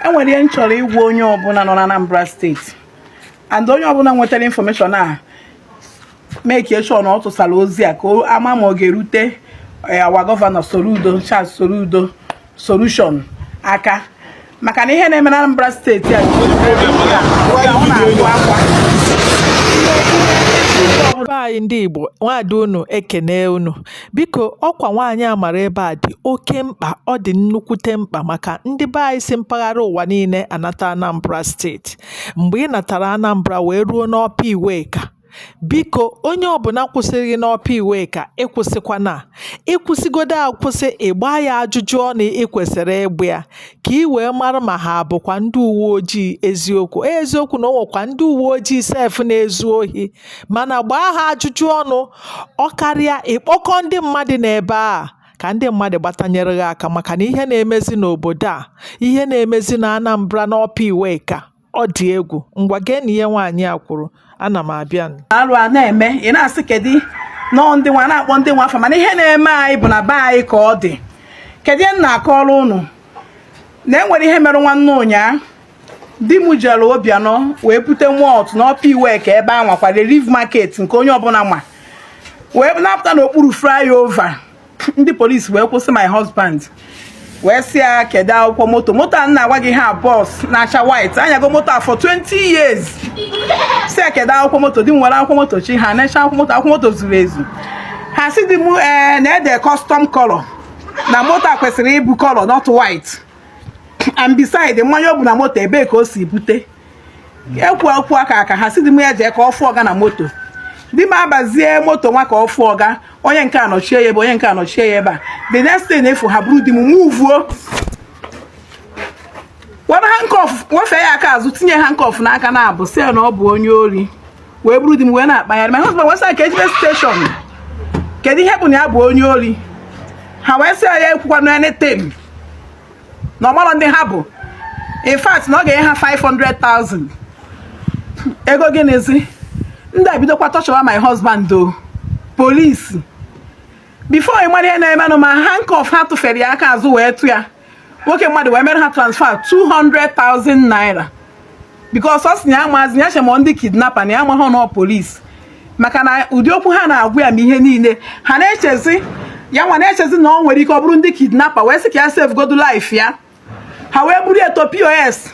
enwere ihe m chọrọ ịgwa onye ọbụla nọ na Anambra steeti and onye ọbụla nwetara information a make sure na ọ tụsara ozi a ka ama ma ọ ga-erute eh, our governor Soludo Charles Soludo solution aka maka na ihe na-eme na Anambra steeti a anyị ndị Igbo nwaada unu ekene unu Biko ọkwa nwaanyị a mara ebe a dị oke mkpa ọ dị nnukwute mkpa maka ndị be anyị si mpaghara ụwa niile anata Anambra steeti mgbe ị natara Anambra wee ruo n'Upper Iweka biko onye ọbụla kwụsịrị gị n'Upper Iweka ị kwụsịkwana ị kwụsịgodo akwụsị ị gbaa ya ajụjụ ọnụ ị kwesịrị ịgba ya ka ị wee mara ma ha bụkwa ndị uwe ojii eziokwu eziokwu na o nwekwa ndị uwe ojii sef na-ezu ohi mana gbaa ha ajụjụ ọnụ ọ karịa ị kpọkọọ ndị mmadụ n'ebe a ka ndị mmadụ gbatanyere gị aka maka na ihe na-emezi n'obodo a ihe na-emezi na Anambra n'Upper Iweka ọ dị egwu ngwa gee na ihe nwaanyị a kwuru ana m abịa alụ a na-eme ị na-asị kedu nọọ ndị nwa na-akpọ ndị nwa afọ mana ihe na-eme anyị bụ na be anyị ka ọ dị kedu ihe m na-akọrọ unu na enwere ihe mere nwanne ụnyaa di m jere Obianọ wee bute malt na Upper Iweka ebe a nwakwa relief market nke onye ọbụla ma wee napụta n'okpuru flyover ndị polisi wee kwụsị my husband wee sị ya kedu akwụkwọ moto moto a na-agwa gị ha bus na-acha white anyago moto a for 20 years sị ya kedu akwụkwọ moto di m nwere akwụkwọ moto chi ha na-eche akwụkwọ moto akwụkwọ moto zuru ezu ha sị di m ee eh, na-ede custom color na moto a kwesịrị ịbụ color not white and beside mmanya o bu na moto ebee ka o si bute ekwu okwu aka aka ha sị di m ya jee ka ọ fụọ ọga na moto di m abazie moto nwa ka ọ fụọ ọga onye nke anọchie ya ebe onye nke anọchie ya ebe a the next thing a fụ ha buru di m muvuo were handcuff wefee ya aka azụ tinye handcuff n'aka naabọ sị ya na ọ bụ onye ori wee buru di m wee na-akpagharị my husband wee sị ka e jebe station kedu ihe bụ na ya bụ onye ori ha wee sị ya ekwukwa na anything na ọ mara ndị ha bụ in fact na ọ ga-enye ha 500,000 ego gịnịzi ndị a bidokwa tọchọwa my husband o polisi before ị mara ihe na-emenụ ma handcuff ha tụfere ya aka azụ wee tụ ya nwoke mmadụ wee mere ha transfer 200,000 naira because ọ sị na ya amazị ya chee ma ọ ndị kidnapper na ya amaghị na ọ polisi maka na ụdị okwu ha na-agwa ya ma ihe niile ha na-echezi ya nwa na-echezi na ọ nwere ike ọ bụrụ ndị kidnapper wee sị ka ya save godu life ya ha wee buru eto POS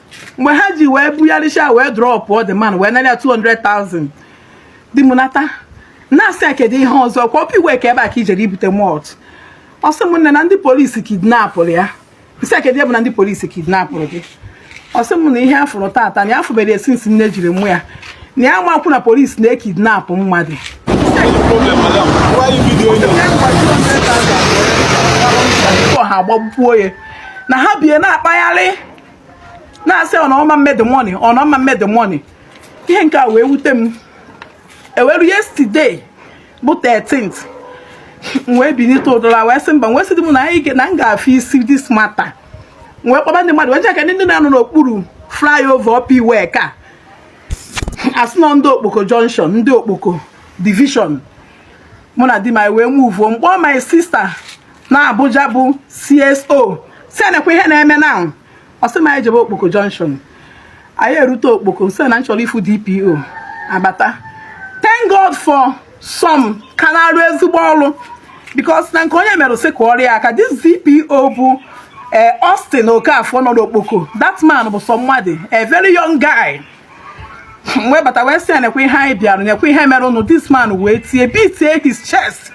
mgbe ha ji wee bugharịcha wee drọpụọ the man wee nara ya 200,000 di m nata na-asị ya kedu ihe ọzọ kwa Upper Iweka ebe a ka i jere ibute malt ọ sị m nne na ndị polisi kidnapụrụ ya m sị ya kedu ihe bụ na ndị polisi kidnapụrụ gị ọ sị m na ihe ya fụrụ tata na ya afụberọ since nne jiri mụọ ya na ya makwu na polisi na-ekidnapụ mmadụ ha agbagbuo ya na ha bie na-akpagharị na-asị ọnọma mmedị money ọnọma mmedị money ihe nke a wee wute m e wee ruo yesterday bụ 13th m wee binite ụdụla wee sị mba wee sị di m na anyị ga- na m ga-afụ isi this matter m wee kpọba ndị mmadụ wee jeka ndị na-anọ n'okpuru flyover Upper Iweka a sị na ọ ndị okpoko junction ndị okpoko division mụ na di m anyị wee muvuo m kpọọ my sister na Abuja bụ CSO sị ya nekwa ihe na-eme na ọ sị m anyị jebe Okpoko Junction anyị erute Okpoko sị na m chọrọ ịfụ DPO abata thank God for some ka na-arụ ezigbo ọrụ because na nke onye mere sị kụọrọ ya aka this DPO bụ eh, Austin Okafor nọ n'Okpoko that man bụ sọ mmadụ a very young guy wee bata wee sị ya nekwa ihe anyị bịara nekwa ihe merenụ this man wee tie beatie his chest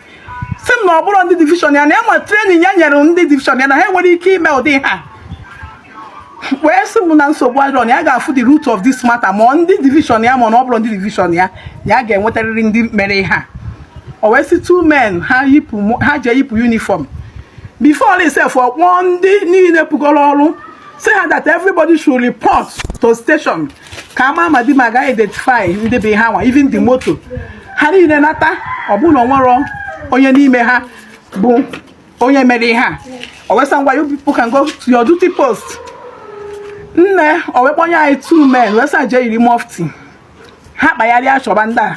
sị m na ọ bụrọ ndị division ya na ya ma training ya nyere ndị division ya na ha enwerọ ike ime ụdị ihe a wee sị m na nsogbu adịrọ na ya ga-afụ the root of this matter ma ndị division ya ma na ọ bụrọ ndị division ya na ya ga-enwetarịrị ndị mere ihe a o wee sị two men ha yipụ ha jee yipụ uniform before all sef ọ kpọọ ndị niile pụgoro ọrụ sị ha that everybody should report to station ka a mara ma di m a ga identify ndị bụ ha nwa even the moto ha niile nata ọ bụ na o nwerọ onye n'ime ha bụ onye mere ihe a o wee sị ha ngwa you people can go to your duty post nne o wee kpọnye anyị two men wee sị ha jee yiri mufti ha kpagharịa chọba ndị a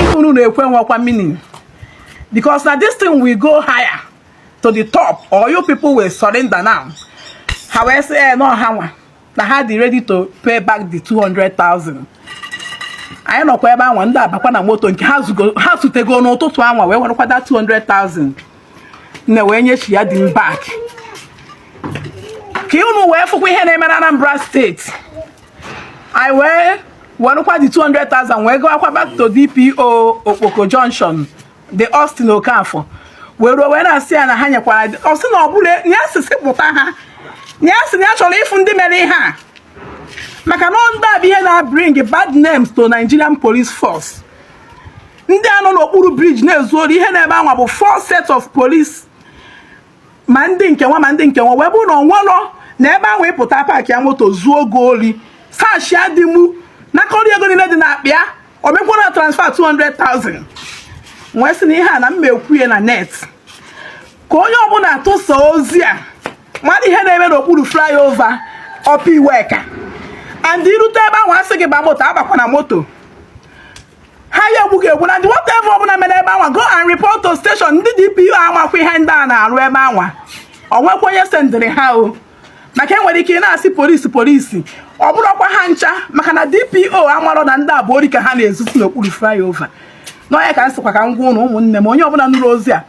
ihe unu na-ekwu nwekwa meaning because na this thing will go higher to the top or you people will surrender now ha wee sị ee eh, na ọ ha nwa na ha dị ready to pay back the 200,000 anyị nọkwa ebe anwa ndị a bakwa na moto nke ha zutego n'ụtụtụ anwa wee werekwa the 200,000 na wee nyechi ya di m back ka unu wee fụkwa ihe na-eme na Anambra steeti anyị wee werekwa the 200,000 wee gawakwa back to DPO Okpoko Junction the Austin Okafor wee ruo wee na-asị ya na ha nyekwara ọ sị na ọ bụla ya sisi pụta ha ya sị na ya chọrọ ịfụ ndị mere ihe a maka na ndị a bụ ihe na-bring bad names to Nigerian police force ndị a nọ n'okpuru bridge na-ezu ori ihe nọ ebe anwa bụ four set of police ma ndị nke nwa ma ndị nke nwa wee bụrụ na onwelọ na ebe ahụ ị pụta paakịa moto zuo gị ori saachịa di mụ nakọrọ ego niile dị n'akpa ya o mekwara transfer 200,000 wee sị na ihe a na m ma-ekwu ya na net ka onye ọbụla tụsa ozi a mara ihe na-eme n'okpuru flyover Upper Iweka and i rute ebe ahụ a sị gị ba moto abakwana moto ha ya-egbu gị egbu and whatever ọbụla mere ebe anwa go and report to station ndị DPO amakwa ihe ndị a na-arụ ebe anwa o nwekwa onye sendịrị ha o maka enwere ike ị na-asị polisi polisi ọ bụrụkwa ha ncha maka na DPO amarọ na ndị a bụ ori ka ha na-ezusi n'okpuru flyover na ọ ya ka m sịkwa ka m gwa ụnụ ụmụnne m onye ọbụla nụrụ ozi a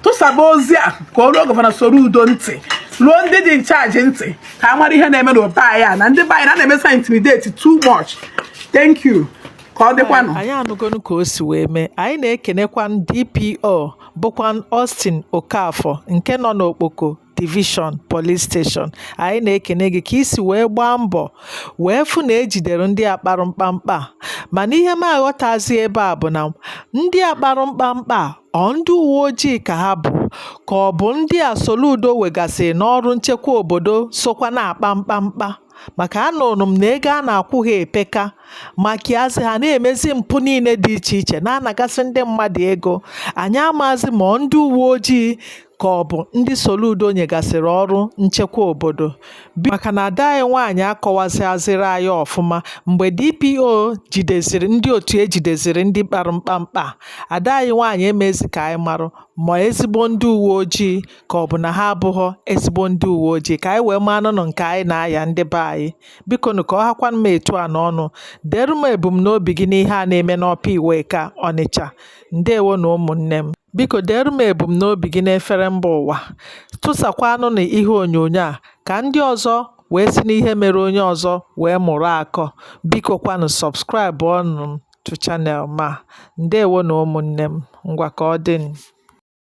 tụsaba ozi a ka o ruo gọvanọ Soludo ntị ruo ndị dị in charge ntị ka a mara ihe na-eme n'obe anyị a na ndị be anyị na na-emesa intimidate too much thank you ka ọ dịkwanụ anyị anụgonu ka o si wee mee anyị na-ekenekwa DPO bụkwa Austin Okafọ nke nọ n'Okpoko Division Police Station anyị na-ekene gị ka i si wee gbaa mbọ wee fụ na e jidere ndị a kparụ mkpamkpa mana ihe m aghọtazi ebe a bụ na ndị a kparụ mkpamkpa ọ ndị uwe ojii ka ha bụ ka ọ bụ ndị a Soludo wegasịrị n'ọrụ nchekwa obodo sokwa na-akpa mkpamkpa maka anụrụ m na ego a na-akwụ ha epeka maka yazi ha na-emezi mpụ niile dị iche iche na-anagasị ndị mmadụ ego anyị amaazị ma ọ ndị uwe ojii ka ọ bụ ndị Soludo nyegasịrị ọrụ nchekwa obodo maka na ada anyị nwaanyị akọwazịazịrị anyị ọfụma mgbe DPO jideziri ndị otu e jideziri ndị kpara mkpamkpa ada anyị nwaanyị emezi ka anyị marụ ma ezigbo ndị uwe ojii ka ọ bụ na ha abụghọ ezigbo ndị uwe ojii ka anyị wee marụnụ nke anyị na-aya ndị be anyị biko nụ ka ọ hakwanụ m etu a n'ọnụ deere m ebumnobi gị n'ihe a na-eme n'Upper Iweka Ọnịcha ndewonụ ụmụnne m biko deere m ebumnobi gị n'efere mba ụwa tụsakwanụnụ ihe onyonyo a ka ndị ọzọ wee si n'ihe mere onye ọzọ wee mụrụ akọ biko kwanụ subscribe ọnụ m to channel m a ndewonụ ụmụnne m ngwa ka ọ dị